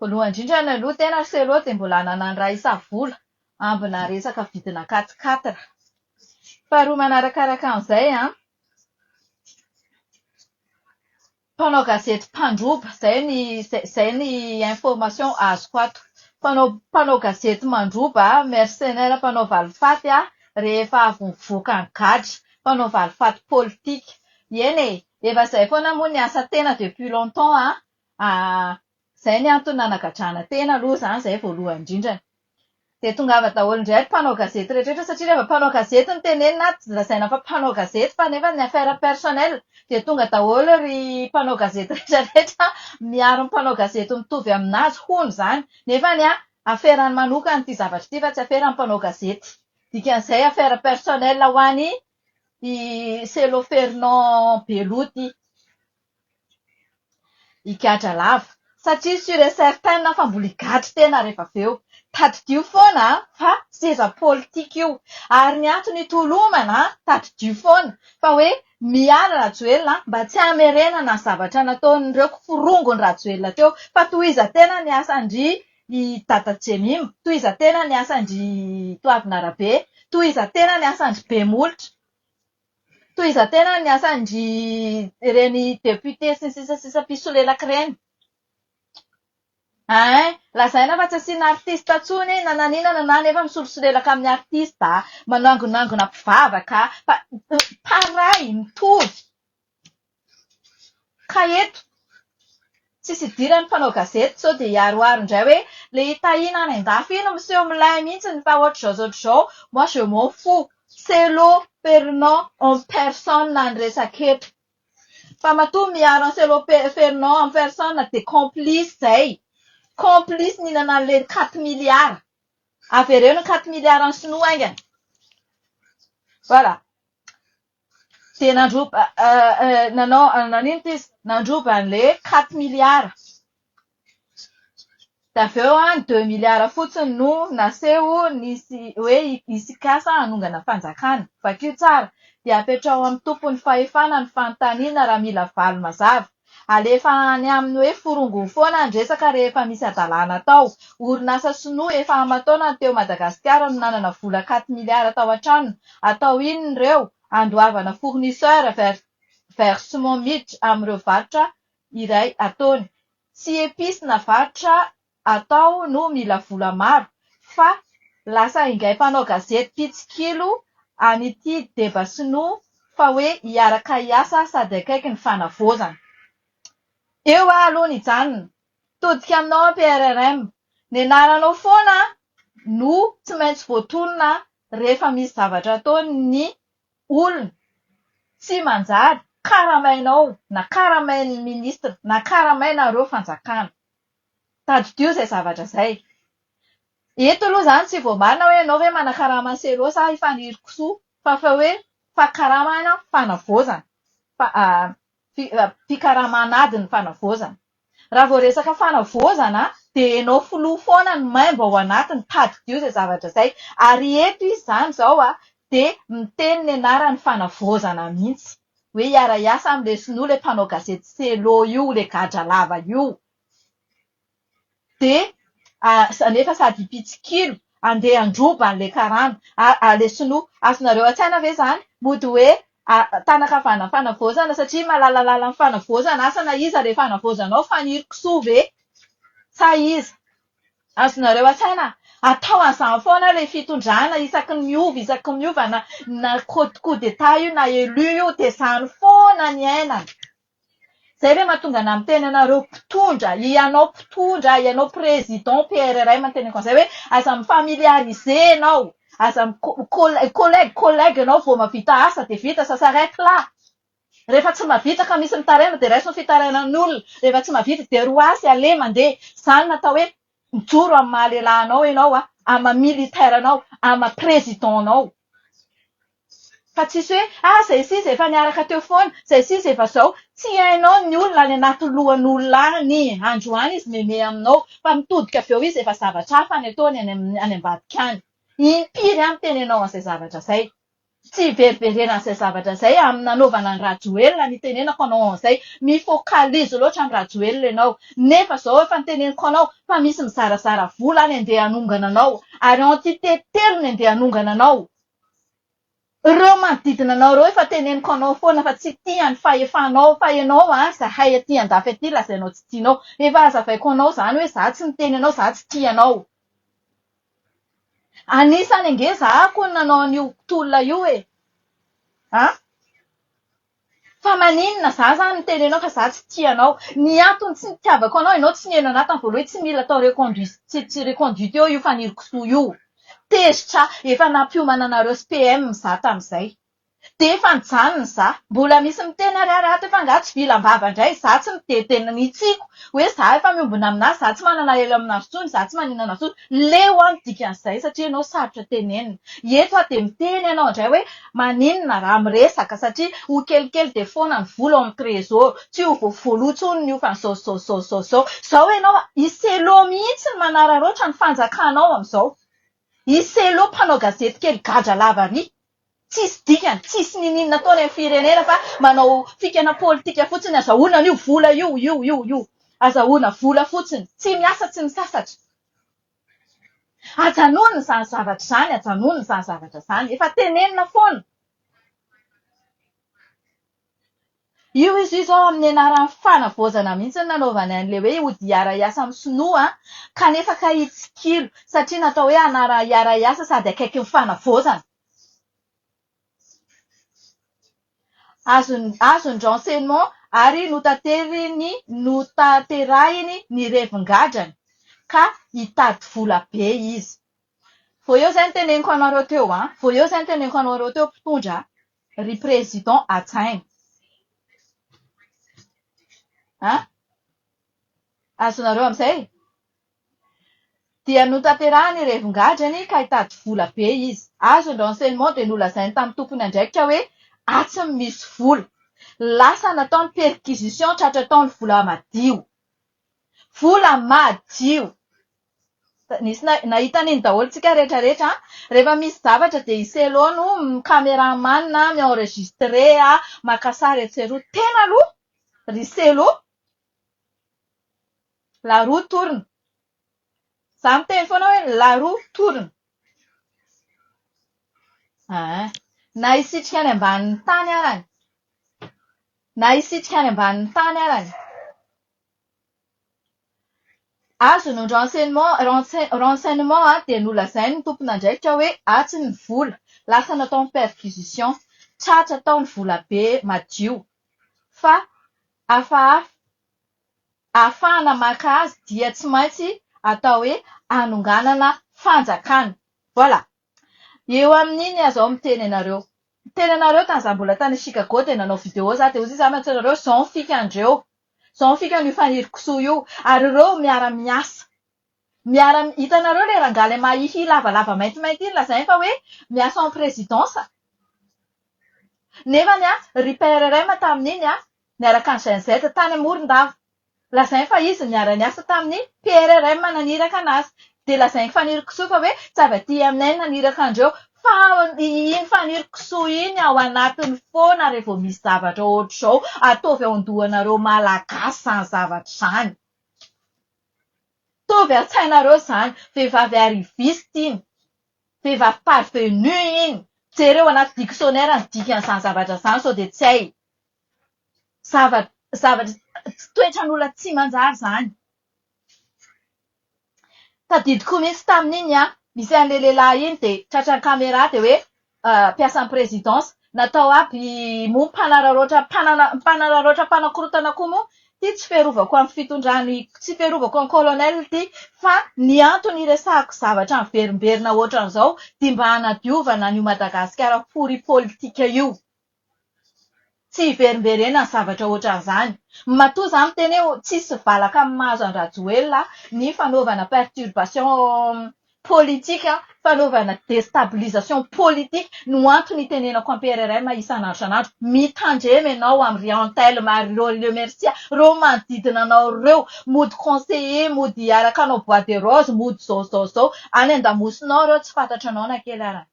Voalohany indrindra ny aloha tena ry Selo dia mbola nanano ra isa-vola ambina resaka vidina quat-quatre. Faharoa manarakaraka an'izay an, mpanao gazety mpandroba, izay ny izay ny information azoko ato. Mpanao mpanao gazety mandroba, mercenaire mpanao valifaty an, rehefa avy mivoaka ny gadra. Mpanao valifaty politika. Eny e! Efa izay foana moa ny asa tena depuis longtemps an! Ahh, zay ny antony nanagadrana tena aloha zany zay voalohany indrindrany. Dia tongava daholo indray ry mpanao gazety rehetra satria reheva mpanao gazety no tenenina ato dia lazaina fa mpanao gazety fa nefa ny affaire personnelle dia tonga daholo ry mpanao gazety rehetra rehetra miaro ny mpanao gazety mitovy aminazy hono zany nefa ny ahy aferany manokana ity zavatra ity fa tsy aferany mpanao gazety dikan'izay affaire personnelle ho any i Selo Fernand Belo ity. Higadra lava satria sur et certain fa mbola higadra tena rehefa avy eo. Tadidio foana fa seza politika io ary ny antony hitolomana tadidio foana fa hoe miala Rajoelina mba tsy hamerenana zavatra nataon'ireo kiforongony Rajoelina teo fa tohizantena ny asan-dry Dada Jemima, tohizantena ny asan-dry Toavinarabe, tohizantena ny asan-dry Bemolotra. Fitohizan-tena ny asan-dry ireny députés sy ny sisa sisa mpisolelaka ireny. Ein! Lazaina fa tsy asiana artiste intsony na nanina na nanana nefa misolosolelaka amin'ny artiste, manangonangona mpivavaka, fa pareil, mitovy. Ka eto, tsisy idiran'ny mpanao gazety sao dia hiaroaro indray hoe le i Tahina any an-dafy iny miseho milay mihitsiny fa ohatr'izao ohatr'izao, moi je m'en fous, Cello Pernant en personne ny resaka eto. Fa matoa miaro an'i Cello Pernant en personne dia complice izay. Complice nihinana an'ilay quatre milliards. Avereno ny quatre milliards ny sinoa haingana. Voilà. dia nandroba nanao nanenitra izy nandroba an'ilay hoe quatre milliards dia avy eo an ny deux milliards fotsiny no naseho nisy hoe hisy kasa hanongana fanjakana vakio tsara dia apetraho amin'ny tompon'ny fahefana ny fanontaniana raha mila valy mazava Alefa any aminy hoe forongony foana ny resaka rehefa misy hadalana atao. Orinasa sinoa efa aman-taonany teo Madagasikara no nanana vola quatre milliards tao an-tranony. Atao inona ireo? Andoavana fournisseur vers vers Simon miditra amin'ireo varotra iray ataony. Tsy epices na varotra atao no mila vola maro fa lasa ingahy mpanao gazety mpitsikilo an'ity deba sinoa fa hoe hiaraka hiasa sady akaiky ny fanavaozana. Eo aho aloha nijanona. Todika aminao aho PRRM. Ny anaranao foana no tsy maintsy voatonona rehefa misy zavatra ataon'ny olona tsy manjary karamainao na karamain'ny ministra na karamainareo fanjakana. Tadidio izay zavatra izay. Eto aloha izany tsy voamarina hoe ianao ve manakarama an'i Selo sa i Fanirikisoa fa fa hoe fakaramana fanavaozana. Mpikaramana ady ny fanavaozana. Raha vao resaka fanavaozana dia ianao filoha foana no maimbo ao anatiny. Tadidio izay zavatra izay. Ary eto izy izany izao dia miteny ny anaran'ny fanavaozana mihitsy. hoe hiara hiasa am le sinoa le mpanao gazety Cello io le gadra lava io de a nefa sady mpitsikilo andeha handroba anle karana a le sinoa azonareo atsaina ve zany mody hoe a tanakavana am fanavaozana satria malalalala am fanavaozana asa na iza le fanavaozanao Faniry kisoa ve sa iza Azonareo asaina atao an'izany foana ilay fitondrana isaky ny miova isaky ny miova na na coup coup d'Etat io na élu io dia izany foana ny iainana. Izay ilay mahatonga anà miteny anareo mpitondra, ianao mpitondra, ianao président PRRM no teneniko an'izay hoe aza mi-familiariser ianao, aza mi-co- collègue collègue ianao vao mahavita asa dia vita, ça s'arrête là. Rehefa tsy mahavita ka misy mitaraina dia raiso ny fitarainan'ny olona. Rehefa tsy mahavita dia roasy, aleha mandeha. Izany no atao hoe mijoro amin'ny maha lehilahinao ianao, amin'ny maha militaire anao, amin'ny maha président anao. Fa tsisy hoe ah izay sy izay efa niaraka teo foana, izay sy izay efa izao. Tsy hainao ny olona any anaty lohan'olona any. Androany izy mihomehy aminao fa mitodika avy eo izy efa zavatra hafa ny ataony any ambadika any. Impiry aho miteny anao an'izay zavatra izay. Tsy hiverimberena izay zavatra izay amin'ny nanaovana an'i Rajoelina ny tenenako anao an'izay. Mi-focalise loatra an'i Rajoelina ianao. Nefa izao efa niteneniko anao fa misy mizarazara vola any andeha hanongana anao ary entité telo ny andeha hanongana anao. Ireo manodidina anao ireo efa teneniko anao foana fa tsy tia ny fahefanao fa ianao an izahay aty andafy aty lazainao tsy tianao. Efa hazavaiko anao izany hoe izaho tsy miteny anao izaho tsy tia anao. Anisany ange za hono nanao an'io tolona io e! an! Fa maninona za izany miteny anao fa za tsy tia anao? Ny antony tsy nitiavako anao ianao tsy niheno an'ahy tamin'ny voalohany hoe tsy mila atao reconduis- tsy- tsy reconduite eo io fanirikisoa io. Tezitra aho, efa nampiomana anareo sy PM za tamin'izay. Dia efa nijanona za. Mbola misy miteny ary ary ato efa angaha tsy vilam-bava indray za tsy mitete ny tsiako hoe za efa miombona aminà za tsy manana elo aminà intsony za tsy maninona intsony. Leo aho ny dikan'izay satria ianao sarotra tenenina. Eto aho dia miteny ianao indray hoe maninona raha miresaka satria ho kelikely dia foana ny vola ao amin'ny trésor. Tsy ho voavoloa intsony ny hofany izao izao izao izao izao. Izao ianao i Cello mihitsy no manararaotra ny fanjakanao amin'izao. I Cello mpanao gazety kely gadra lava ry. Tsisy dikany, tsisy ninin nataony am firenena fa manao fikana politika fotsiny, azahoana anio vola io, io, io, io. Azahoana vola fotsiny, tsy miasa tsy misasatra. Ajanony zany zavatra zany, ajanony zany zavatra zany, efa tenenina foana. Io izy io izao amin'ny anaran'ny fanavaozana mihitsy no nanaovany an'ilay hoe hody hiara-hiasa amin'ny sinoa kanefa kay hitsikilo satria natao hoe anarana hiara-hiasa sady akaiky ny fanavaozana. Azon'i azon'i renseignement ary notateriny notanterahiny ny revin-gadrany ka hitady vola be izy. Vao eo izay no teneniko anareo teo an! Vao eo izay no teneniko anareo teo mpitondra an! Ry Président Atsaina a! Azonareo amin'izay? Dia notanterahiny revin-gadrany ka hitady vola be izy. Azo ny renseignement dia nolazainy tamin'ny tompon'andraikitra hoe atsy no misy vola. Lasa nataony perquisition tratra tao ny vola madio. Vola madio! Nisy nahita an'iny daholo tsika rehetra rehetra an! Rehefa misy zavatra dia i Cello no cameraman mi-enregistre maka sary etsy sy eroa. Tena aloha ry Cello la roue tourne. Izaho miteny foana hoe la roue tourne. Aa. Na hisitrika any ambanin'ny tany arany. Na hisitrika any ambanin'ny tany arany. Azony ny renseignement renseign renseignement dia nolazain'ny tompon'andraikitra hoe atsy ny vola, lasa natao ny perquisition, tratra tao ny volabe madio fa hafahafa. Ahafahana maka azy dia tsy maintsy atao hoe hanonganana fanjakana. Voilà. Eo amin'iny aza aho miteny anareo. Niteny anareo tany za mbola tany Chicago dia nanao video za dia hoy za mantsy anareo zao ny fika andreo. Zao ny fika an'io Fanirikisoa io. Ary ireo miara miasa. Miara hitanareo ilay rangahy ilay mahihihy lavalava maintimainty iny lazainy fa hoe miasa en présidence. Nefany an, ry PRRM tamin'iny an, niaraka an'i Gen Z tany Morondava. Lazainy fa izy no niara-niasa tamin'ny PRRM naniraka an'azy. Dia lazain'i Faniriky kisoa fa hoe tsy avy aty aminay ny naniraka an'ireo fa iny Faniriky kisoa iny ao anatiny foana raha vao misy zavatra ohatr'izao. Ataovy ao an-dohanareo Malagasy izany zavatra izany. Ataovy an-tsainareo izany. Vehivavy arriviste iny. Vehivavy parvenue iny. Jereo anaty dictionnaire ny dikan'izany zavatra izany sao dia tsy hay. Zavatra zavatra tsy toetran'olona tsy manjary izany. Tadidiko mihitsy tamin'iny an, nisy an'ilay lehilahy iny dia tratran'ny camera dia hoe mpiasan'ny presidence. Natao aby moa mpanararaotra mpanana- mpanararaotra mpanakorontana koa moa ity tsy fiarovako amin'ny fitondran- tsy fiarovako an'i colonel ity fa ny antony hiresahako zavatra miverimberina ohatran'izao dia mba hanadiovana an'io Madagasikara pory politika io. Tsy hiverimberena ny zavatra ohatran'izany. Matoa za miteny hoe tsisy valaka amin'ny maha azy an'i Rajoelina ny fanaovana perturbation politique, fanaovana destabilisation politique no antony itenenako am PRRM isan'andro isan'andro. Mitandrema ianao am ry Antelme ary ireo ry Lemercia, ireo manodidina anao ireo, mody conseiller, mody hiaraka hanao bois de rose, mody zao zao zao. Any andamosinao ireo tsy fantatranao na kely arany.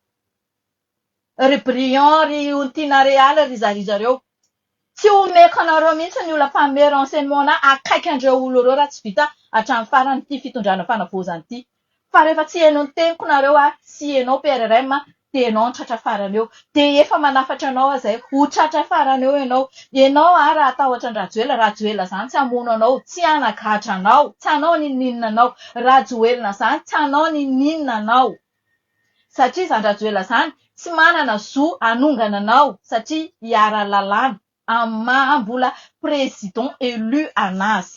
Ry Briand, ry Ontina Real, ry zarizareo. Tsy homeko anareo mihitsy ny ola mpamehy renseignements-na akaiky an'ireo olona ireo raha tsy vita hatramin'ny farany ity fitondrana fanavaozana ity. Fa rehefa tsy heno ny teniko nareo aho sy ianao PRRM dia ianao no tratra farany eo. Dia efa manafatra anao aho izay. Ho tratra farany eo ianao. Ianao aho raha hatahotra an-dRajoelina, Rajoelina izany tsy hamono anao, tsy hanagadra anao, tsy hanao n'inon'inona anao. Rajoelina izany tsy hanao n'inon'inona anao. satria zany Rajoela zany tsy manana zo hanongana anao satria hiara lalàna amin'ny maha mbola président élu anazy.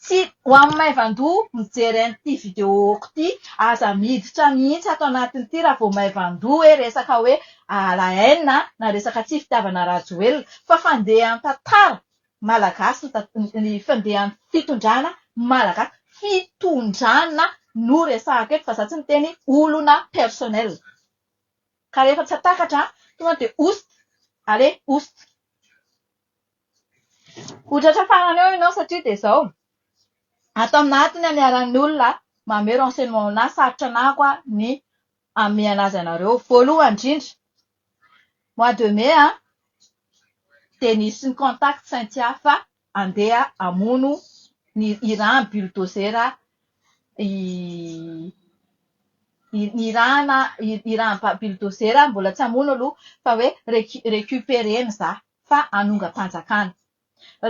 Tsy ho amin'ny maivan-doha mijery an'ity vidéo-ko ity aza miditra mihitsy ato anatin'ity raha vao maivan-doha hoe resaka hoe la haine na resaka tsy fitiavana Rajoelina fa fandehan-tantara Malagasy ny ny fandehan'ny fitondrana malagasy. Fitondrana no resahako eto fa za tsy miteny olona personnel. Ka rehefa tsy atakatra tonga dia oust! Allez oust! Ho tratra farany eo ianao satria dia izao, ato aminà ato ny aniaran'ny olona manome renseignement anà sarotra anà koa ny hamehana azy anareo. Voalohany indrindra, mois de mai an, dia nisy ny contact Cynthia fa andeha hamono ny hirany bulldozer i ny hirana hiran'ny bulldozer mbola tsy hamono aloha fa hoe recu- recuperena za fa hanongam-panjakana.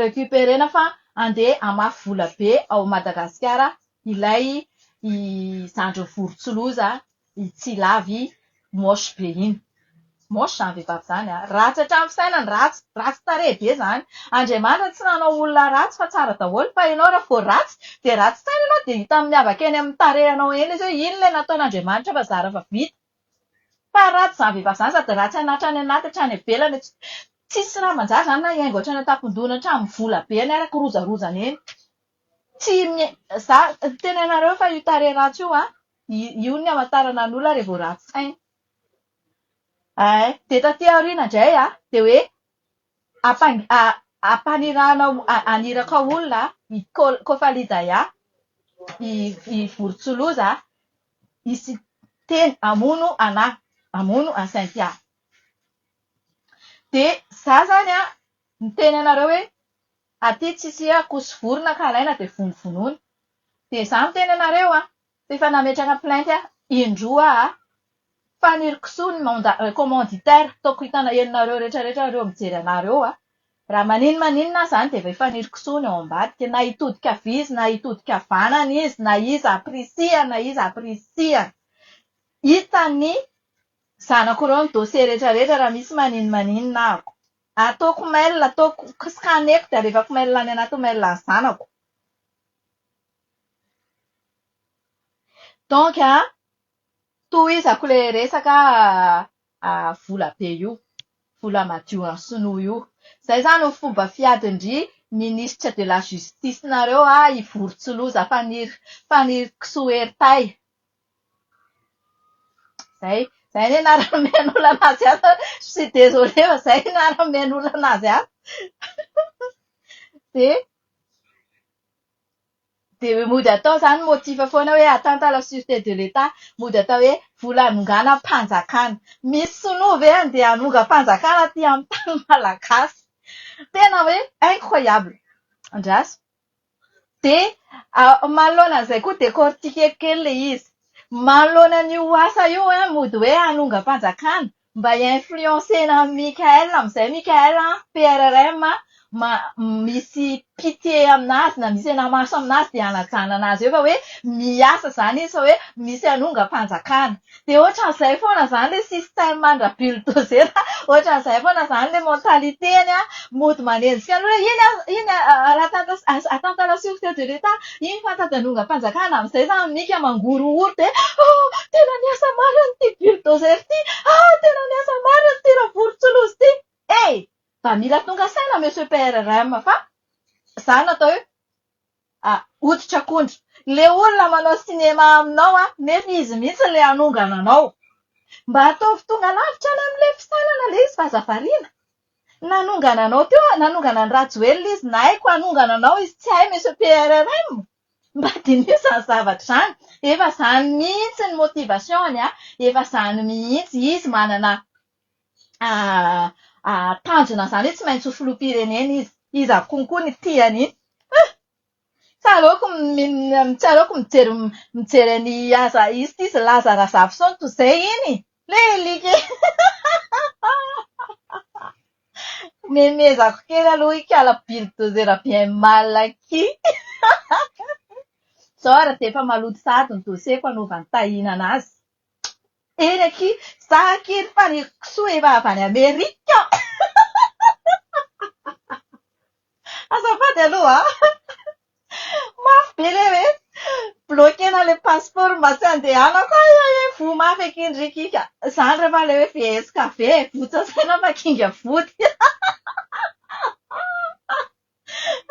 Recuperena fa andeha hamafy vola be ao Madagasikara ilay zandriny vorontsiloza I tsy lava i moche be iny. Moche zany vehivavy zany a. Ratsy hatramin'ny fisainany, ratsy, ratsy tarehy be zany. Andriamanitra tsy nanao olona ratsy fa tsara daholo fa ianao raha vao ratsy dia ratsy saina ianao dia hita miavaka eny amin'ny tarehinao eny izy hoe iny ilay nataon'Andriamanitra fa zara fa vita. Fa ratsy zany vehivavy zany sady ratsy an hatrany anaty hatrany ivelany. Tsisy raha manjary zany na hiaingo hatrany an-tampon-dohany hatramin'ny vola be any ary kirojarojany eny. Tsy mi- za miteny anareo fa io tarehy ratsy io an, Io ny hamantarana ny olona raha vao ratsy saina. Ay, dia taty aoriana indray an, dia hoe ampangi- ampanirahana haniraka olona i Ko- Kofalidaya, i i vorontsiloza hisy teny hamono anà, hamono an'i Synthia. Dia izaho izany an, niteny anareo hoe aty tsy hisiha-koso vorona ka alaina dia vonovonoina. Dia izaho miteny anareo an, Efa nametraka plainte aho indroa a! Faniry kisoa ny manda commanditaire ataoko hitana enonareo retraretra reo mijery anah reo a! Raha maninn maninn aho zany dia efa hifaniry kisoa ny ao ambadika na hitodika havia izy na hitodika havanana izy na iza aprisihany na iza aprisihany! Hitan'ny zanako reo ny dossier retraretra raha misy maninn maninn ahako! Ataoko mail ataoko scaneko dia alevako mail any anaty mail ny zanako! Donc an, tohizako ilay resaka vola be io, vola madio an'i sinoa io. Izay izany ny fomba fiadin-dry ministre de la justice nareo an, i Vorotsiloza Faniry Fanirikisoa Hery Tay. Izay, izay anie ny anaran'ny omen'olana azy an, je suis désolée fa izay no anaran'ny omen'olana azy an. Dia. Dia mody atao izany motif foana hoe atteinte à la surete de l'Etat. Mody atao hoe vola hanonganam-panjakana. Misy sinoa ve handeha hanongam-panjakana aty amin'ny tany malagasy? Tena hoe incroyable. Andraso. Dia manoloana an'izay koa décortiquer kely ilay izy. Manoloana an'io asa io hoe mody hoe hanongam-panjakana, Mba influencer-na an'i Mickaël amin'izay Mickaël an, PRRM an, ma, misy pitié aminazy na misy anamaso aminazy dia anajana anazy eo fa hoe miasa izany izy fa hoe misy hanongam-panjakana. Dia ohatran'izay foana izany ilay système an-dra bulldozer an, ohatran'izay foana izany ilay mentalité-ny an, mody manenjika an'olona, iny an, iny an, Ratantas, Atantalasory teo de l'Etat, Iny fa tajanongam-panjakana amin'izay zany minika mangorohoro dia ah! tena niasa marina ity bulldozer ity ah! tena niasa marina ity ravorontsiloza ity eh! Mba mila tonga saina monsieur PRRM fa za natao hoe ah! hoditr'akondro. Ilay olona manao cinéma aminao an! nefa izy mihitsy ilay hanongana anao. Mba ataovy tonga lavitra any amin'ilay fisainana ilay izy fa aza variana. Nanongana anao teo, nanongana an'i Rajoelina izy, na hay koa hanongana anao izy tsy hay Monsieur PRRM. Mba diniho izany zavatra izany. Efa izany mihitsy ny motivation-ny an, efa izany mihitsy. Izy manana tanjona izany hoe tsy maintsy ho filoham-pirenena izy. Izy avokoa koa no tia an'iny. Huh! Tsaroako tsaroako mijery mijery an'i Aza izy ity izy Laza Razafison toa izay iny e! Ilay alika iny. Memezako kely aloha hikala bulldozer bien mal aky. Izao ary dia efa maloto sahady ny dossier-ko hanaovany tahinana azy. Eny aky, za aky ry faniriako kisoa efa avy any Amerika. Azafady aloha a! Mafy be ilay hoe bloquer-na ilay passeport mba tsy handehanako ay ay ay voa mafy aky ny ricky ka! Izany rehefa ilay hoe VSKV e! Votsa saina fa kinga vody!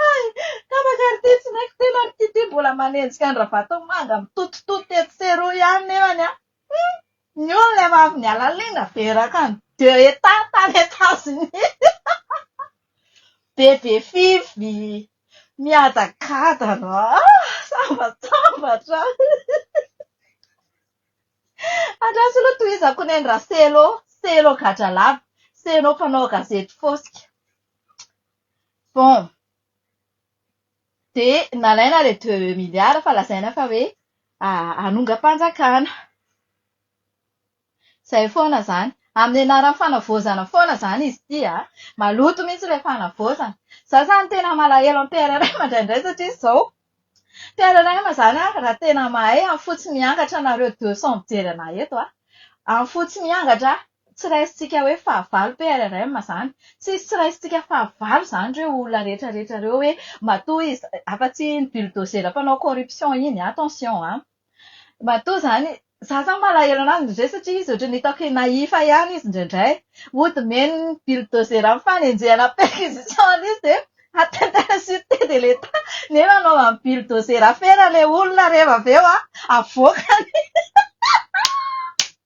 Hay! Tapaka ry ty tsy naiko tena ry kiti mbola manenjika an-dRavatomanga mitotototo etsy sy eroa ihany nefany an! Hum! Ny olona efa avy niala lina be rakan de eta tany Etats Unis. Bebe Fifi miadagadana ah! Sambatsambatra Andraso aloha tohizako ny an'i Raselo, Selo gadralava, Selo mpanao gazety fosika. Bon. Dia nalaina ilay deux milliards fa lazaina fa hoe hanongam-panjakana. Izay foana izany. Amin'ny anaran'ny fanavaozana foana izany izy ity an! Maloto mihitsy ilay fanavaozana. Izaho izany tena malahelo amin'ny PRRM indraindray satria izao. PRRM izany an, raha tena mahay, any fotsiny miangatra anareo deux cents mijery anà eto an! Any fotsiny miangatra an! Tsy raisintsika hoe fahavalo PRRM izany. Tsy hisy tsy raisintsika fahavalo izany ireo olona rehetra rehetra ireo hoe matoa izy, afa-tsy iny bulldozer mpanao corruption iny, attention an! Matoa izany, izaho izany malahelo an'azy indraindray satria izy ohatran'ny hitako nahifa ihany izy indraindray. Hody mihaino ny bulldozer amin'ny fanenjehana perquisition an'io izy dia atteinte à la sûreté de l'Etat nefa anaovan'ny bulldozer afera ilay olona rehefa avy eo an, avoakany.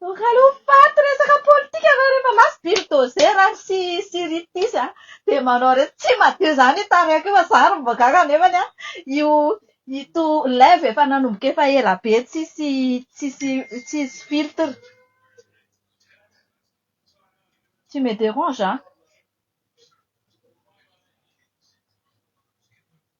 Donc alou faty resaka politika anareo rehefa last bulldozer ary sy sy ritisy a dia manao reny tsy madio zany io tarihako io fa za ary mbola gaga nefany a io ito live efa nanomboka efa ela be tsisy tsisy tsisy filtre tu me derange an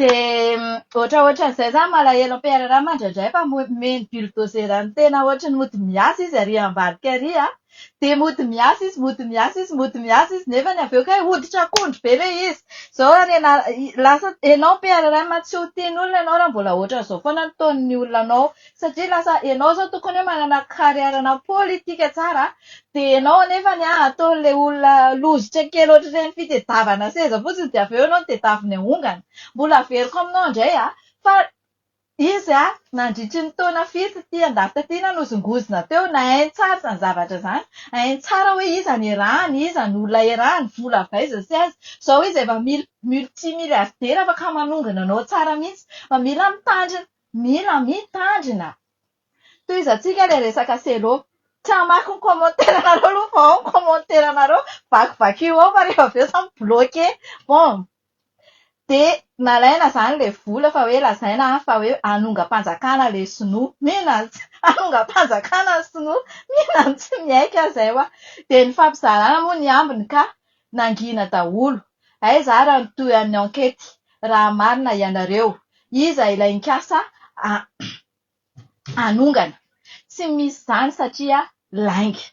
Dia ohatraohatran'izay zany malahelo am PR Rama indraindray fa omeny bulldozer ny tena ohatry ny mody miasa izy ary ambadika ary an! Dia mody miasa izy, mody miasa izy, mody miasa izy nefany avy eo kay hoditra akondro be ilay izy! Izao ary ianà- lasa ianao am PR Rama tsy ho tian'olona ianao raha mbola ohatran'izao foana ny taon'ny olona anao satria lasa enao zao tokony hoe manana carrière na politika tsara dia enao anefany an ataon'ilay olona lozitra kely ohatr'ireny fitedavana seza fotsiny dia avy eo enao no tedaviny ahongana mbola averiko aminao indray an fa izy an nandritry ny taona fito ity andafy taty na nozongozona teo na hainy tsara izany zavatra izany hainy tsara hoe iza no erahany iza no olona erahany vola avy aiza sy aiza izao izy efa mil multi milliardaire afaka manongana anao tsara mihintsy fa mila mitandrina Mila mitandrina. Tohizantsika ilay resaka cello. Tsy hamaky ny commentaire anareo aloha fa ao ny commentaire anareo, vakivakio ao fa rehefa avy eo za mi-bloqué. Bon, dia nalaina izany ilay vola fa hoe lazaina fa hoe hanongam-panjakana ilay sinoa. Mino aho tsy hanongam-panjakana ny sinoa. Mino aho tsy miaiky aho izay ho'a. Dia nifampizarana moa ny ambiny ka. Nangina daholo. Aiza ara ny toy an'ny ankety raha marina ianareo? Iza ilay nikasa hanongana? Tsy misy izany satria lainga.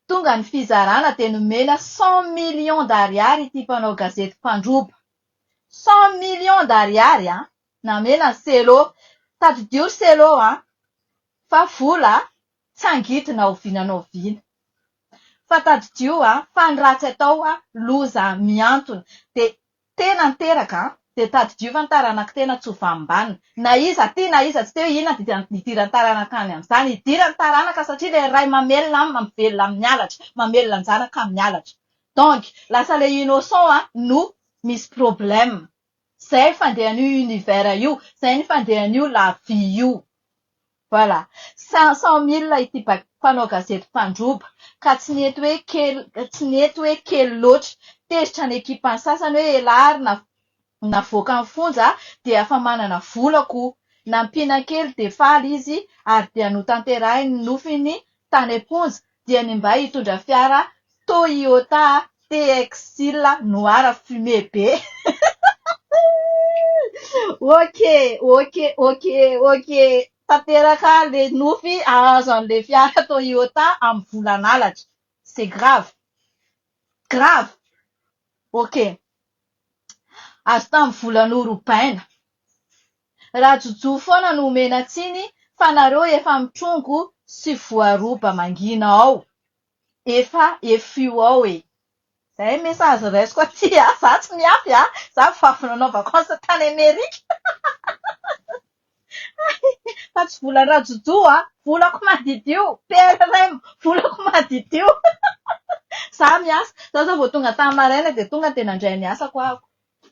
Tonga ny fizarana dia nomena cent millions d'ariary ity mpanao gazety mpandroba. Cent millions d'ariary an! Namena an'i Cello. Tadidio ry Cello an! Fa vola Tsy angidina ao vina nao vina. Fa tadidio fa ny ratsy atao loza mihantona dia tena niteraka dia tadidio fa ny taranak'i tena tsy ho vaham-banona. Na iza tia na iza tsy tia hoe inona dia hidiran'ny taranaka any amin'izany. Hidiran'ny taranaka satria ilay ray mamelona aminy mampivela amin'ny halatra, mamelona ny zanaka amin'ny halatra. Donc lasa ilay innocent no misy problème. Zay fandehan'io univers io, zay ny fandehan'io la vie io. Voilà. Cinq cent mille ity ba- mpanao gazety mpandroba, ka tsy nety hoe kely, tsy nety hoe kely loatra. Tezitra ny ekipan'ny sasany hoe elah ary na- navoaka ny fonja dia efa manana vola koa. Nampiana kely dia faly izy ary dia notanterahiny ny nofiny tany am-ponja dia ny mba hitondra fiara Toyota TX-il noir fumé be. Ok, ok, ok, ok. Tanteraka le nofy ahazo anle fiara Toyota am volan'alatra. C'est grave. Grave. Ok. Azo tam volan'orobaina. Raha jojo foana no omena tsiny fa nareo efa mitrongo sy voaroba mangina ao efa efiu ao e. Zay message raisiko aty a, za tsy miafy a, za vao avy nanao vacance tany Amerika fa tsy volan'i rajojo a, volako madidio, PRRM volako madidio, za miasa, za zao vao tonga tany maraina dia tonga dia nandray ny asako aho.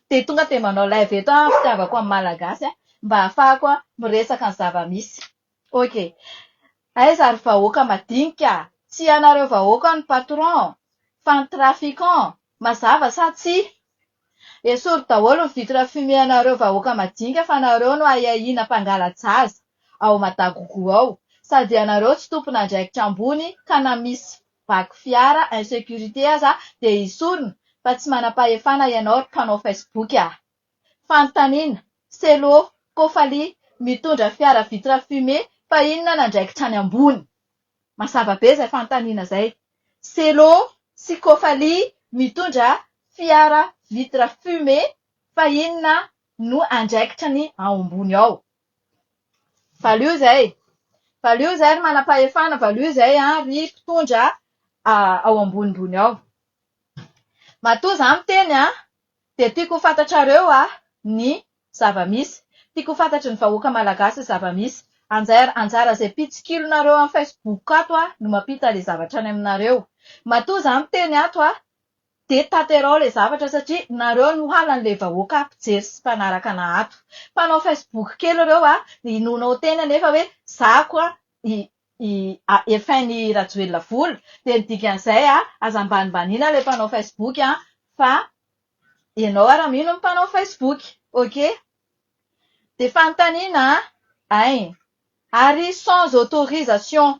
Dia tonga dia manao live eto aho fitiavako an'i Malagasy mba ahafahako miresaka ny zava-misy. Ok. Aiza ry vahoaka madinika a! Tsy ianareo vahoaka no patron fa ny trafiquants. Mazava sa tsia? Esory daholo ny vitre fumée anareo vahoaka madinika fa nareo no ahiahiana mpangala-jaza ao Madagougou ao. Sady ianareo tsy tompon'andraikitra ambony ka na misy vaky fiara, insécurité aza dia hisorona fa tsy manam-pahefana ianao ry mpanao Facebook a! Fanontaniana, Cello, Kofali, mitondra fiara vitre fumée fa inona ny andraikitra any ambony? Mazava be izay fanontaniana izay. Cello sy Kofali mitondra fiara vitre fumée fa inona no andraikitra ny ao ambony ao? Valio izay! Valio izay ry manam-pahefana, valio izay ry mpitondra ao ambonimbony ao. Matoa izaho miteny dia tiako ho fantatrareo ny zava-misy. Tiako ho fantatry ny vahoaka malagasy ny zava-misy. Anjair- Anjara izay mpitsikilonareo amin'ny Facebook ato no mampita ilay zavatra any aminareo. Matoa izaho miteny ato Dia tanterao ilay zavatra satria nareo no halan ilay vahoaka mpijery sy mpanaraka ana ato. Mpanao facebook kely ireo a, inoana ao teny anefa hoe zako i i a efn i rajoelina vola dia ny dikan'izay a aza ambanimbaniana ilay mpanao facebook a fa ianao ara mino ny mpanao facebook ok. Dia fanontaniana a, ein. Ary sans autorisation.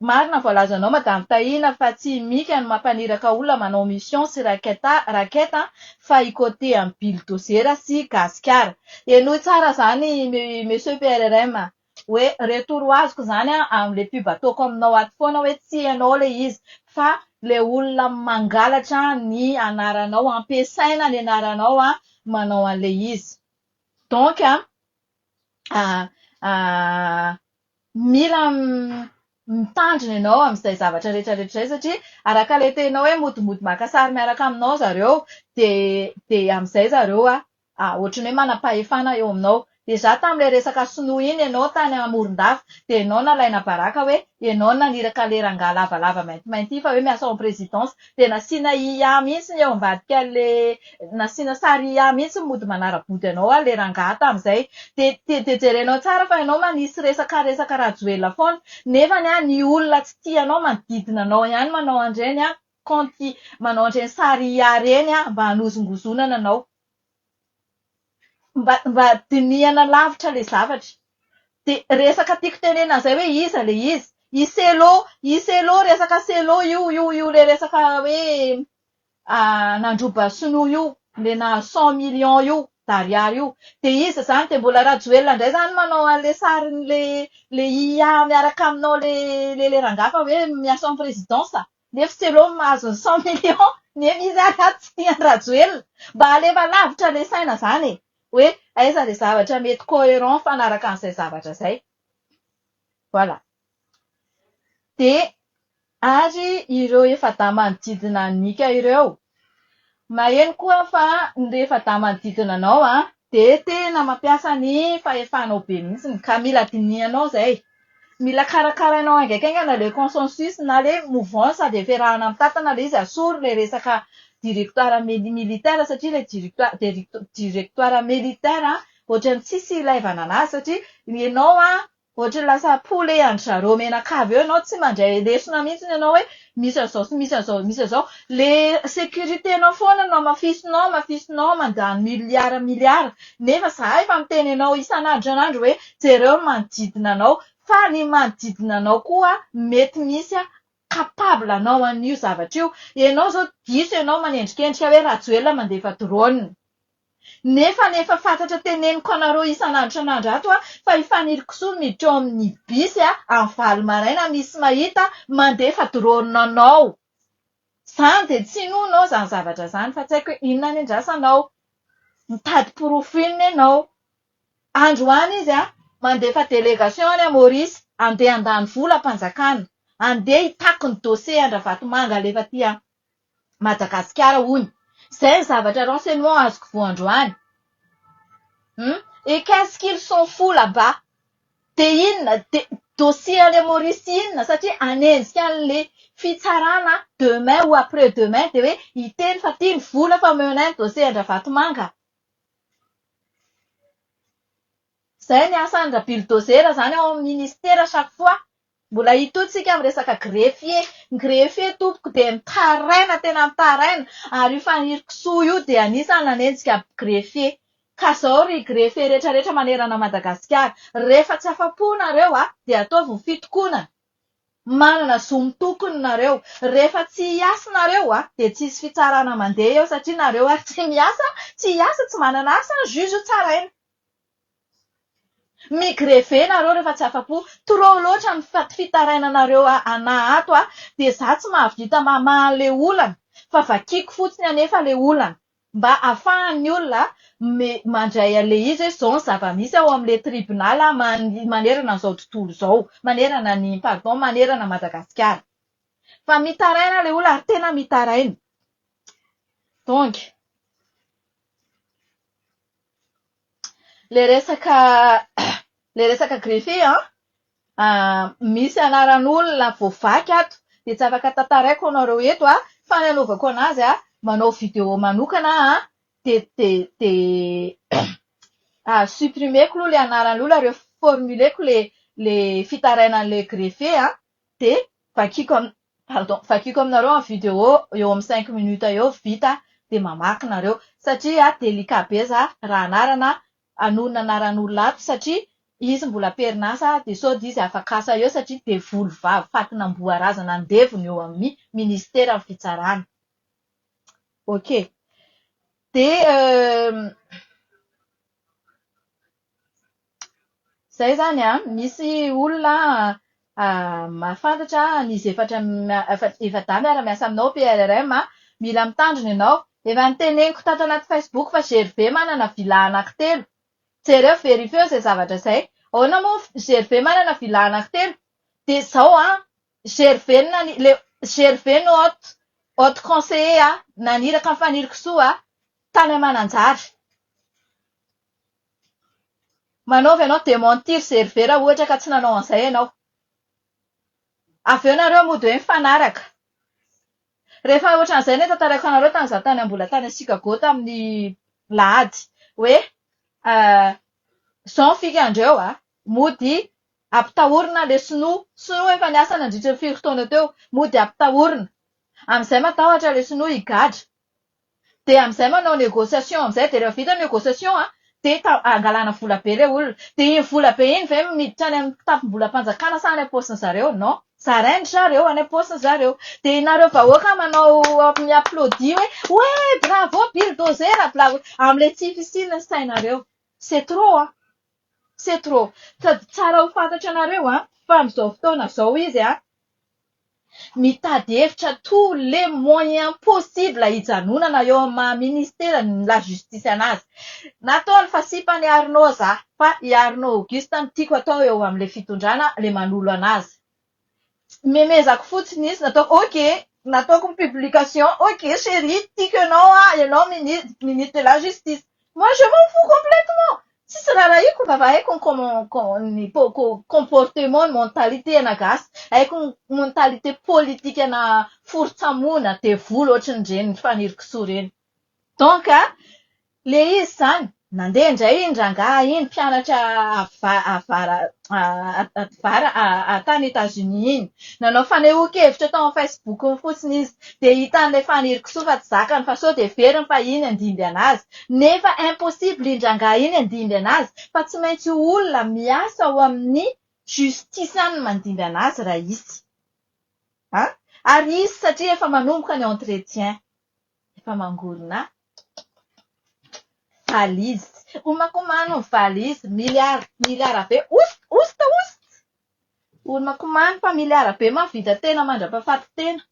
Marina voalazanao madame Tahina fa tsy i Mika no mampaniraka olona manao mission sy racket racket an fa i côté an'i billdozera sy gasikara. Henoy tsara zany monsieur PRRM a! Hoe retour azoko zany an amle pub ataoko aminao ato foana hoe tsy ianao le izy fa le olona mangalatra ny anaranao ampiasaina ny anaranao an manao anle izy. Donc an Mila mitandrina ianao amin'izay zavatra rehetra rehetra izay satria araka ilay teninao hoe mody mody maka sary miaraka aminao zareo dia amin'izay zareo ohatry ny hoe manam-pahefana eo aminao. Déjà tamin'ilay resaka sinoa iny ianao tany Morondava dia ianao nalaina baraka hoe ianao no naniraka ilay rangahy lavalava maintimainty iny fa hoe miasa ao amin'ny présidence. Dia nasiana IA mihitsy ny eo ambadika le nasiana sary IA mihitsy ny mody manara-body anao ary le rangahy tamin'izay. Dia dia jerenao tsara fa ianao manisy resaka resaka Rajoelina foana nefa ny ny olona tsy tia anao manodidina anao ihany manao an'ireny compte manao an'ireny sary IA ireny mba hanozongozonana anao. Mba mba dinihana lavitra ilay zavatra. Dia resaka tiako tenenina an'izay hoe iza ilay izy? I Cello, i Cello, resaka Cello io, io io ilay resaka hoe nandroba sinoa io, ilay nahazo cent millions io d'ariary io. Dia iza izany? Dia mbola Rajoelina indray izany manao an'ilay sarin'ilay IA miaraka aminao ilay ilay rangahy fa hoe miasa en présidence. Nefy tsy aleo mahazo ny cent millions nefy izy ary ato tsy tia an'i Rajoelina. Mba alefa lavitra ilay saina izany e! Hoe aiza ilay zavatra mety coherent mifanaraka an'izay zavatra izay. Voilà. Dia ary ireo efa-daman'i Didina Nika ireo? Maheno koa fa ny rehefa da manodidina anao an, dia tena mampiasa ny fahefanao be mihitsy ka mila dinihanao izay. Mila karakarainao haingaikaingana ilay consensus na ilay mouvance avy efa erahana mitantana ilay izy, asoro ilay resaka directoire militaire satria ilay directoire militaire ohatran'ny tsisy ilaivana an'azy satria ianao an, Ohatry lasa apoly e an-dry zareo menakavy eo ianao tsy mandray lesona mihitsy ianao hoe misy an'izao sy misy an'izao misy an'izao. Ilay sécurité-nao foana no amafisinao amafisinao mandany milliards milliards nefa izaho efa miteny anao isan'andro isan'andro hoe jereo ny manodidina anao fa ny manodidina anao koa mety misy capable anao an'io zavatra io. Ianao zao diso ianao manendrikendrika hoe Rajoelina mandefa drone. Nefa ny efa fantatra teneniko anareo isan'andro isan'andro ato a, fa i Fanilo Kisoa miditra ao amin'ny bus a, amin'ny valo maraina misy mahita mandefa drone anao. Zany dia tsy inoanao zany zavatra zany fa tsy haiko hoe inona ny andrasanao. Mitady porofo inona ianao. Andro any izy a! Mandefa délégation any à Maurice handeha handany vola am-panjakana, handeha hitaky ny dossier an-dRavatomanga alefa aty a Madagasikara hono. Izay ny zavatra renseignement azoko voa androany. Hum! Et qu'est ce qu'il s'en fout là bas? Dia inona? Dia dossier any à Maurice inona? Satria hanenjika an'ilay fitsarana demain ou après demain dia hoe hiteny fa ity ny vola fa omeo anay ny dossier an-dRavatomanga. Izay ny asan'ny rabilodôzera izany ao amin'ny minisitera chaque fois. Mbola hitohy tsika amin'ny resaka greffier. Ny greffier tompoko dia mitaraina tena mitaraina ary io Faniry kisoa io dia anisan'ny nanenjika greffier. Ka izao ry greffier rehetra rehetra manerana an'i Madagasikara, rehefa tsy afa-po nareo dia ataovy ny fitokonana. Manana zo mitokona nareo. Rehefa tsy hiasa nareo a, dia tsy hisy fitsarana mandeha eo satria nareo ary tsy miasa, tsy hiasa, tsy manana asa an, juge tsaraina. Mi grever nareo rehefa tsy afa-po. Trop loatra ny fitarainanareo ana ato a, dia za tsy mahavita mamaha le olana fa vakiako fotsiny anefa le olana. Mba afahan'ny olona mandray an'ilay izy hoe izao ny zava-misy ao amin'ilay tribunal manerana an'izao tontolo izao, manerana ny, pardon, manerana an'i Madagasikara. Fa mitaraina ilay olona ary tena mitaraina. Donc, ilay resaka ilay resaka greffier an, Misy anaran'olona voavaky ato dia tsy afaka tantaraiko anareo eto an! Fa ny anaovako anazy an, manao video manokana aho an, dia supprimer-ko aloha ilay anaran'ilay olona, reformuler-ko ilay fitarainan'ilay greffe an, dia vakiako am- pardon, vakiako aminareo amin'ny video eo amin'ny cinq minutes eo, vita dia mamaky nareo. Satria délicat be izaho raha anarana Anonona anaran olona ato satria izy mbola amperinasa dia sao dia izy afakasa eo satria devoly vavy fatin'amboa razana andevo ny eo amin'ny ministeran'ny fitsarana. Ok. Dia izay izany an, misy olona Mahafantatra an izy efatra efa dame ara miasa aminao PRRM a! Mila mitandrina ianao! Efa noteneniko tato anaty Facebook fa GRV manana villa anaky telo! Jereo verifieo izay zavatra izay! Ahoana moa GRV manana villa anaky telo? Dia izao an! GRV no nani le GRV no haute haute conseiller a! Naniraka an'i Fanirikisoa a! Tany Mananjary! Manaova ianao dementir serveur ohatra ka tsy nanao an'izay ianao. Avy eo nareo mody hoe mifanaraka. Rehefa ohatran'izay no tantaraiko anareo tany izaho tany mbola tany Chicago tamin'ny lahady hoe izao ny fikandreo a! mody ampitahorina ilay sinoa. Sinoa efa niasa nandritra ny firy taona teo. Mody ampitahorina. Amin'izay matahotra ilay sinoa higadra. dia amin'izay manao négociation amin'izay dia rehefa vita ny négociation an, dia ta- hangalana vola be ilay olona. Dia iny vola be iny ve miditra any amin'ny kitapom-bolam-panjakana sa any am-paosin'ny zareo? Non. Zarain-dry zareo any am-paosin'ny zareo. Dia ianareo vahoaka manao mi-applaudit hoe ouais bravo bulldozer bla bla. Amin'ilay tsy fisian'ny sainareo. C'est trop an! C'est trop. Sady tsara ho fantatra anareo an, fa amin'izao fotoana izao izy an, Mitady hevitra tous les moyens possibles hijanonana eo amin'ny maha ministera ny la justice anazy. Nataony fa sipa an'i Arnaud za fa i Arnaud Auguste no tiako atao eo amin'ilay fitondrana ilay manolo anazy. Memezako fotsiny izy nataoko ok nataoko ny publication ok chérie tiako ianao aho ianao minis- ministre de la justice. Moi je m'en fous complètement! Tsisy rarahiako fa fa haiko ny comment ny comportement ny mentalité ana gasy, haiko ny mentalité politique ana forotsamoana, devoly ohatry ny reny Faniry kisoa ireny. Donc ilay izy izany, nandeha indray iny rangahy iny mpianatra avara tany Etats Unis iny. Nanao fanehoan-kevitra tao amin'ny Facebook-ny fotsiny izy. Dia hitan'ilay Faniry kisoa fa tsy zakany fa sao dia heveriny fa iny handimby anazy. Nefa impossible iny rangahy iny handimby anazy fa tsy maintsy io olona miasa ao amin'ny justice any no mandimby anazy raha hisy. A! Ary hisy satria efa manomboka ny entretien. Efa mangorona valise. Homakomano ny valise. Milliards, milliards be. Oust! Oust! Oust! Homakomano fa milliards be mahavita tena mandrapahafaty tena.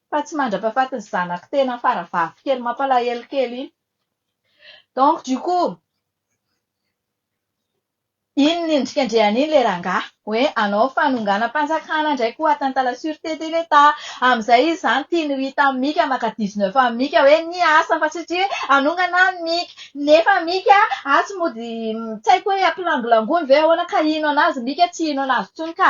fa tsy mandrapahafatin'ny zanako tena fara vavy kely mampalahelo kely iny donc du coup iny ny endrika andriana iny le rangahy hoe anao fanonganam-panjakana indray koa atteinte à la surete de l'etat amin'izay izy izany tiany ho hita amin'i mika maka dix neuf amin'i mika hoe ny asa fa tsy tia hoe hanongana an'i mika nefa mika atsy mody tsy haiko hoe hampilangolangoany ve ahoana ka hino an'azy mika tsy hino an'azy intsony ka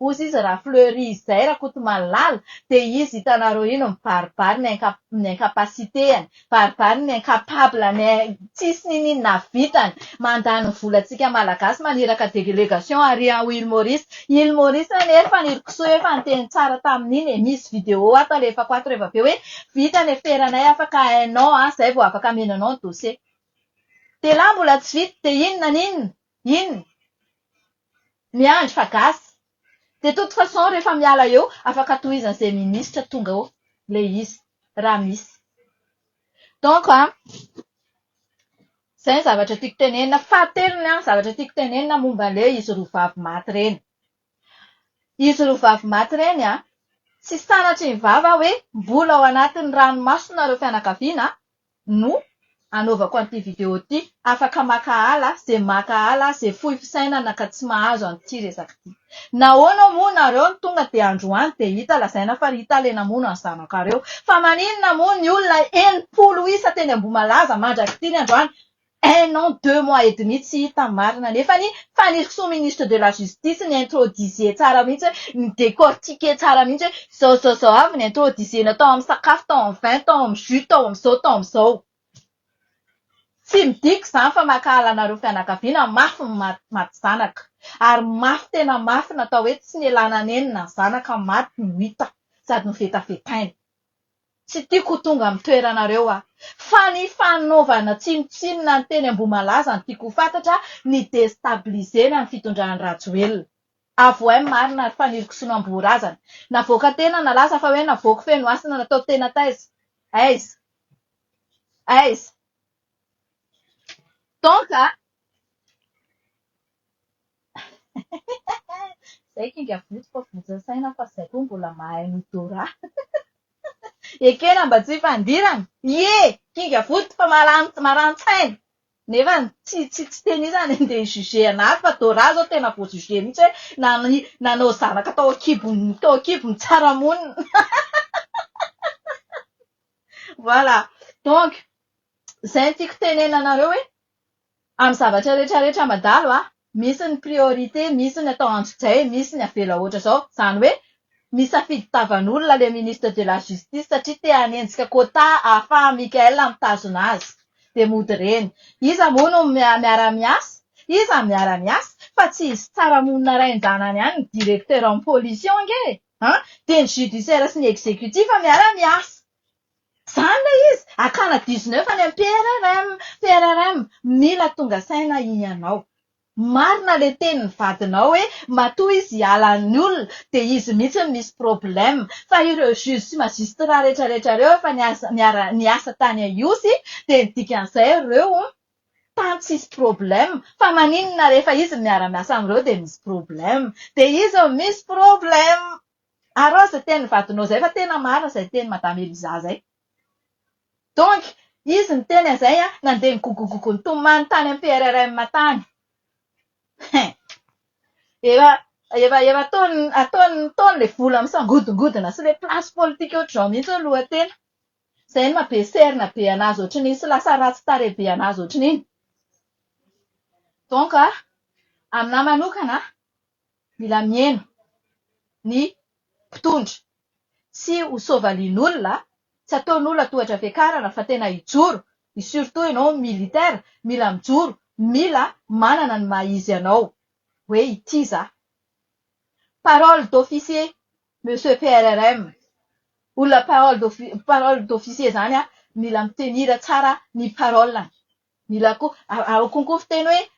Ozy izy ra fleury izay rakotomalala de izy hitanareo ino mibaribary ny inca ny incapacité any mibaribary ny incapable ny tsisy ninin nahavitany mandany ny volatsika malagasy maniraka deglégation ary ao île maurice île maurice anie ry fanirikisoa efa niteny tsara tamin'iny e misy vidéo ato alefako ato reva be hoe vita ny aferanay afaka un an zay vao afaka amena anao ny dossier de la mbola tsy vita de inona n'inona Inona? Miandry fa gasy. De toute façon rehefa miala eo afaka tohizan'izay ministra tonga eo ilay izy raha misy. Donc an, izay ny zavatra tiako tenenina. Fahatelony an, zavatra tiako tenenina momba an'ilay izy roa vavy maty ireny. Izy roa vavy maty ireny an, tsy sanatry ny vava aho hoe mbola ao anatin'ny ranomasonareo fianakaviana an, no anaovako an'ity video ity. Afaka maka ala ze maka ala ze fohy fisainana ka tsy mahazo an'ity resaka ity. Nahoana moa nareo no tonga de androany de hita lazaina fa ry tale namono an'i zanakareo. Fa maninona moa ny olona enimpolo isa teny Ambohimalaza mandrak'ity ny androany Un an deux mois et demi tsy hita marina nefany faniriky sous ministre de la justice ni introduisez tsara mihitsy hoe ni decortiquer tsara mihitsy hoe zao zao zao avy ni introduisena tao amin'ny sakafo tao amin'ny vin tao amin'ny jus tao amin'izao tao amin'izao tsy midika izany fa mankahala anareo fianakaviana mafy ny maty maty zanaka ary mafy tena mafy natao hoe tsy nialana nenina ny zanaka maty no hita sady novetavetaina. Tsy tiako ho tonga amin'ny toeranareo aho. Fa ny fanaovana tsinontsinona ny teny Ambohimalaza no tiako ho fantatra, ny destabiliser-na ny fitondran'i Rajoelina. Avohay ny marina ary faniriko sinoa am-bohorazana. Navoaka tena nalaza fa hoe navoako feno hasina natao tena taiza? Aiza? Aiza? Donc, Zay kinga vody fa votsin'ny saina fa zay koa mbola mahay an'odorat. Ekena mba tsy hifandirana. Ie! Kinga vody fa marani- marani-tsaina. Nefa tsy tsy tsy tena izy any andeha hi-juger an'ahy fa Dora izao tena voa-juger mihitsy hoe nan- nanao zanaka tao an-kibon'ny tao an-kibon'ny tsara monina. Voilà. Donc, izay no tiako tenena anareo hoe Amin'ny zavatra rehetra rehetra amadalo a, misy ny priorité, misy ny atao androjay, misy ny avela ohatra izao. Izany hoe misafidy tavan'olona ilay ministre de la justice satria te hanenjika quota ahafaha Mickaël mitazona azy. Dia mody ireny. Iza moa no miara miasa? Iza no miara miasa? Fa tsy izy tsara monina rain-janany any ny directeur en pollution ange e! Dia ny judiciaire sy ny executif miara miasa. Zany ilay izy! Akana dix neuf any amin'ny PRRM! PRRM! Mila tonga saina hianao! Marina ilay tenin'ny vadinao hoe matoa izy hiala ny olona dia izy mihitsy no misy problème fa ireo juge sy magistrat rehetra rehetra ireo efa niasa niara niasa tany a Ihosy dia ny dikan'izay ireo tany tsisy problème fa maninona rehefa izy no miara miasa amin'ireo dia misy problème dia izy no misy problème! Arao izay tenin'ny vadinao izay fa tena marina izay tenin'i Madame Eliza izay. Donc, izy niteny an'izay an, nandeha nigogogogo nitomany tany amin'ny PRRM tany. Hein. Efa efa efa ataony ataony nitaony ilay vola misangodingodina sy ilay place politique ohatr'izao mihitsy hoe lohatena. Izay ny maha-be serina be an'azy ohatr'iny sy lasa ratsy tarehy be an'azy ohatr'iny. Donc, aminahy manokana, Mila mieno ny mpitondra. Tsy ho soavalian'olona, tsy ataon'olona tohatra fiakarana fa tena hijoro, i surtout ianao militaire mila mijoro, mila manana ny maha izy anao hoe ity za. Parole d'officier Monsieur PRRM, olona parole d'officier zany mila mi tenir tsara ny parole-ny. Mila koa, ao konko fiteny hoe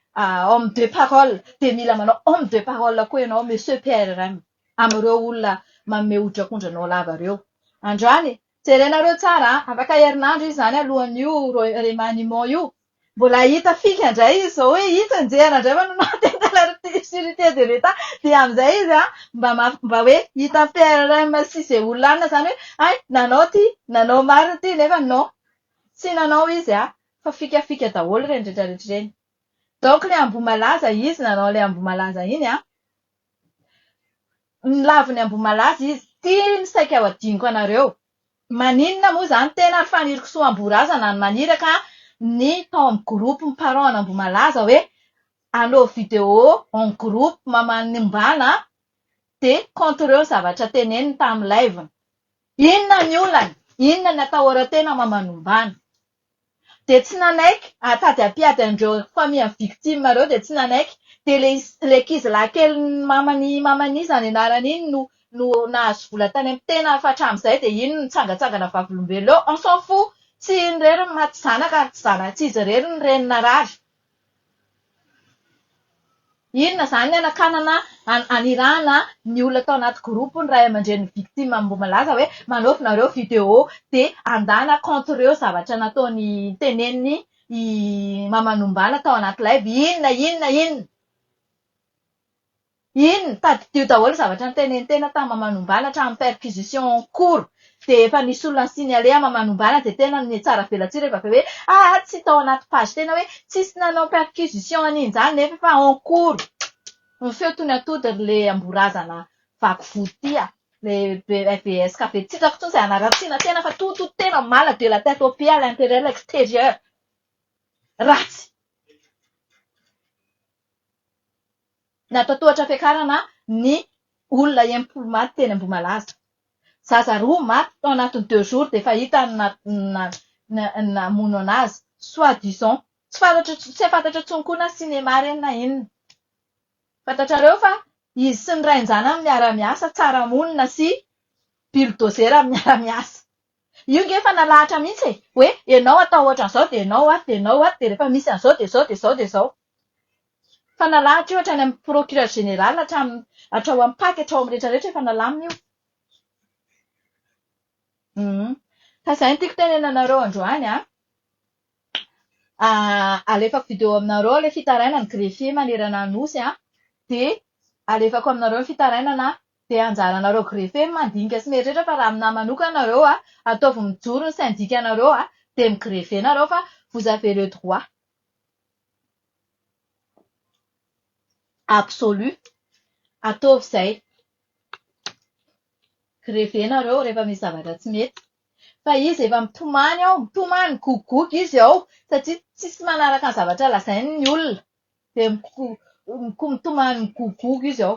homme de parole, dia mila manao homme de parole koa ianao Monsieur PRRM, amin'ireo olona manome hoditrak'ondry anao lava ireo. Andrany e! Jerenareo tsara an! Afaka herinandro izy izany alohan'io remaniement io. Mbola hita fika indray izy izao hoe itsy anjehana indray fa nomaty an Talarity sûreté de l'Etat, dia amin'izay izy an, mba ma- mba hoe hitan'ny PRRM sy izay olona anona izany hoe hay nanao ity, nanao marina ity, nefa non. Tsy nanao izy a! Fa fikafika daholo ireny retraretra ireny. Donc ilay Ambohimalaza izy nanao ilay Ambohimalaza iny a! Nilavo ny Ambohimalaza izy. Ity no saika ho adinoko anareo. Maninona moa izany tena ry Fanirikisoa Ambohirazana no maniraka ny tao amin'ny groupe ny parents an'Ambohimalaza hoe anaovy vidéo en groupe mamaly ny ombàna dia compte-reo ny zavatra teneniny tamin'ny live-ny. Inona ny olany? Inona ny atahoran-tena mamanombana? Dia tsy nanaiky hahatady hampiady an'ireo famille victime ireo dia tsy nanaiky. Dia ilay ilay ankizilahy kelin'ny maman'i maman'i iza ny anarany iny no no nahazo vola tany amin'ny tenany fa hatramin'izay dia iny no nitsangantsangana vavolombelona eo. On s'en fou! Tsy iny irery no maty zanaka ary tsy zana- tsy izy irery no reny narary. Inona izany ny hanakanana hanirahana ny olona atao anaty groupe ny ray aman-drenin'ny victime mbola milaza hoe manaovy nareo video dia handana kaonty ireo zavatra nataony teneniny i Maman'ombàna tao anaty live inona inona inona. Inn, tadidio daholo ny zavatra nitenenin'ny tena tamin'ny Mamanombana hatramin'ny perquisition en cours dia efa nisy olona ni-signaler an'i Mamanombana dia tena nome tsara velatsihy rehefa avy eo hoe aa tsy tao anaty page tena hoe tsisy nanao perquisition an'injany nefa efa en cours ny feo toy ny atody ry le amborazana vaky vody ty a! ilay BBS ka be tsy hitako intsony izay hanaratsiana tena fa tout tout tena mal de la tête aux pieds à l'intérieur à l'extérieur ratsy Natahotra fiakarana ny olona enimpolo maty teny Ambohimalaza. Zaza roa maty tao anatin'ny deux jours dia efa hita ny namono anazy soit disant. Tsy fantatra tsy fantatra intsony koa na cinéma ireny na inona. Fantatrareo fa izy sy ny rain-janany miara miasa tsara monina sy bilodozera miara miasa. Io nge efa nalahatra mihintsy e! hoe ianao atao ohatran'izao dia ianao ato dia ianao ato dia rehefa misy an'izao dia izao dia izao dia izao. Fa nalahatra io hatrany amin'ny procureur général hatramin'ny hatrao amin'ny pac hatrao amin'ny rehetra rehetra efa nalamina io. Humm. Fa izay no tiako tenenanareo androany an. Alefako video aminareo ilay fitarainan'ny greffier manerana Anosy an, dia alefako aminareo ny fitarainana an, dia anjaranareo greffier ny mandinika sy mieritreritra fa raha aminà manokana nareo an, ataovy mijoro ny syndicat-nareo an, dia mi-grever nareo fa vous avez le droit. absolu ataovy izay greve nareo rehefa misy zavatra tsy mety fa izy efa mitomany ao mitomany migogogogy izy ao satria tsisy manaraka ny zavatra lazainy ny olona dia mitomany migogogogy izy ao